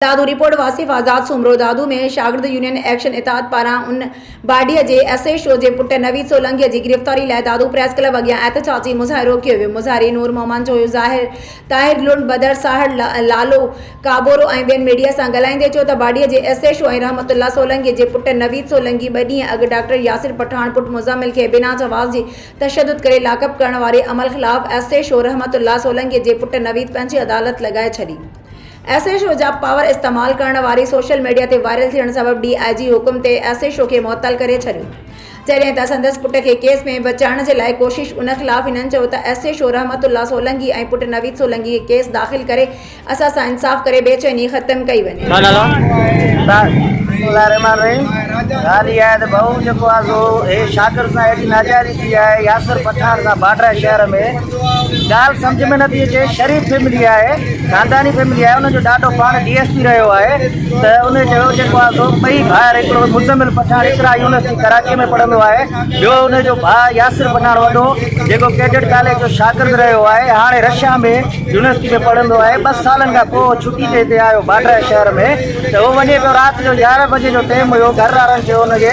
Dadu, report, Wasif Azad Soomro, Dadu ۾ شاگرد union action اتحاد پاران ان باڊيء جي ايس ايڇ او جي پٽ نويد سولنگيء جي گرفتاري لاء دادو پريس ڪلب اڳيان احتجاجي مظاهرو ڪيو ويو، مظاهري نور محمد جويو، ظاهر طاهر لنڊ، بدر ساهڙ، لالو ڪابورو ۽ ٻين ميڊيا سان ڳالهائيندي چيو ته باڊيء جي S H O ۽ Rahmat Ullah سولنگيء جي پٽ نويد سولنگي ٻه ڏينهن اڳ ڊاڪٽر ياسر پٺاڻ پٽ مزمل کي بنا جواز جي تشدد ڪري لاڪ اپ ڪرڻ واري عمل خلاف S H O Rahmat Ullah سولنگيء جي پٽ نويد پنهنجي عدالت لڳائي ڇڏي ايس ايڇ او جا پاور استعمال ڪرڻ واري سوشل ميڊيا تي وائرل ٿيڻ سبب ڊي آء جي حڪم تي ايس ايڇ او کي معطل ڪري ڇڏيو جڏهن ته سندس پٽ کي ڪيس ۾ بچائڻ جي لاء ڪوشش ان خلاف هنن چيو ته S H O Rahmat Ullah Solangi ۽ پٽ نويد سولنگي کي ڪيس داخل ڪري اسان سان انصاف ڪري بي چيني ختم ڪئي وڃي. ڳالهه سمجهه ۾ نٿي اچي شريف فيملي آهي خانداني فيملي آهي ان جو ڏاڏو پاڻ ڊي ايس پي رهيو آهي ته ان چيو جيڪو آهي سو ٻئي ڀائر هڪڙو مزمل پٺاڻ اقرا يونيورسٽي ڪراچي ۾ پڙهندو آهي ٻيو ان جو ڀاء ياسر پٺاڻ وڏو جيڪو ڪيڊٽ ڪاليج جو شاگرد رهيو آهي هاڻي رشيا ۾ يونيورسٽي ۾ پڙهندو آهي ٻه سالن کان پوء ڇٽي تي هتي آيو باڊرائي شهر ۾ ته هو وڃي پيو رات جو يارهن بجي جو ٽيم هيو گهر وارن چيو ان کي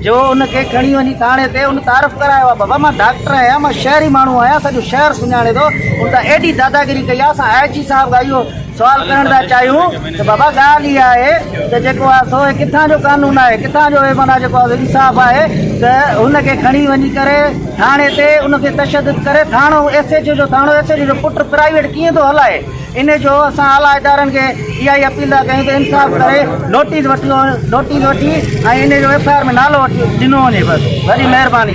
جو ان کي کڻي وڃي ٿاڻي تي ان تعارف ڪرايو آ بابا مان ڊاڪٽر آهيان مان شهري ماڻهو آهيان سڄو شهر سڃاڻي ٿو ان تان ايڏي داداگيري ڪئي آ اسان آء جي صاحب کان اهو سوال ڪرڻ ٿا چاهيون ته بابا ڳالهه اها آهي ته جيڪو آ سو هي ڪٿان جو قانون آهي ڪٿان جو هي معنيٰ جيڪو آ انصاف آهي ته هن کي کڻي وڃي ڪري ٿاڻي تي ان تي تشدد ڪري ٿاڻو ايس ايڇ او جو ٿاڻو ايس ايڇ او جو پٽ پرائيويٽ ڪيئن ٿو هلائي ان جو اسان اعليٰ ادارن کي اها ئي اپيل ٿا ڪيون ته انصاف ڪري نوٽيس وٺي نوٽيس وٺي ۽ ان جو ايف آء آر ۾ نالو ڏنو وڃي بس وڏي مهرباني